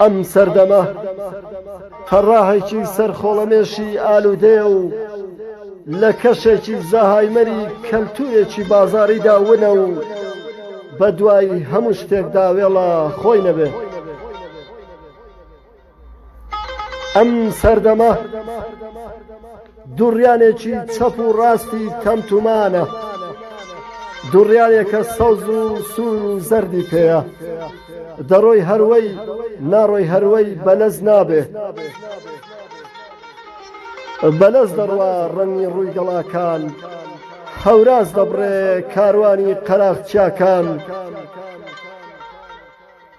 ئەم سەردەمە تەڕاهێکی سەرخۆڵەمێشی ئالوودەیە و لە کەشێکی زەهایمەری کەلتوورێکی بازاڕیدا ونە و بە دوای هەموو شتێکدا وێڵە خۆی نەبێ. ئەم سەردەمە دووڕیانێکی چەپ و ڕاستی تەمتومانە، دووڕیانێکە سەوز و سوور و زەردی پێیە، دەڕۆی هەروەی، ناڕۆی هەروەی، بەلەز نابێ. بەلەز دەڕوا ڕەنگی ڕووی گەڵاکان، هەوراز دەبڕێ کاروانی قەراخچیاکان.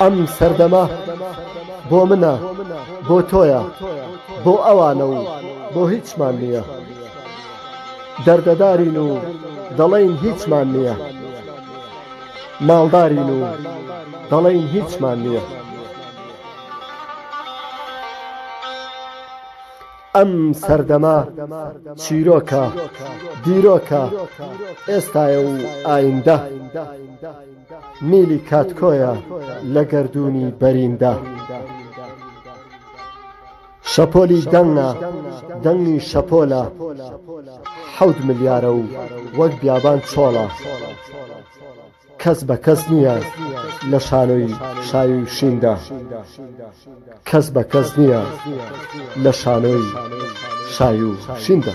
ئەم سەردەمە بۆ منە، بۆ تۆیە، بۆ ئەوانە و بۆ هیچمان نییە. دەردەدارین و دەڵێین هیچمان نییە. ماڵدارین و دەڵێین هیچمان نییە. ئەم سەردەمە چیرۆکە، دیرۆکە، ئێستایە و ئایندە، میلی کاتکۆیە لە گەردوونی بەریندا. شەپۆلی دەنگە، دەنگی شەپۆلە، حەوت ملیارە و وەک بیابان چۆڵە. کەس بە کەس نییە لە شانۆی شای و شیندا کەس بە کەس نییە لە شانۆی شای و شیندا.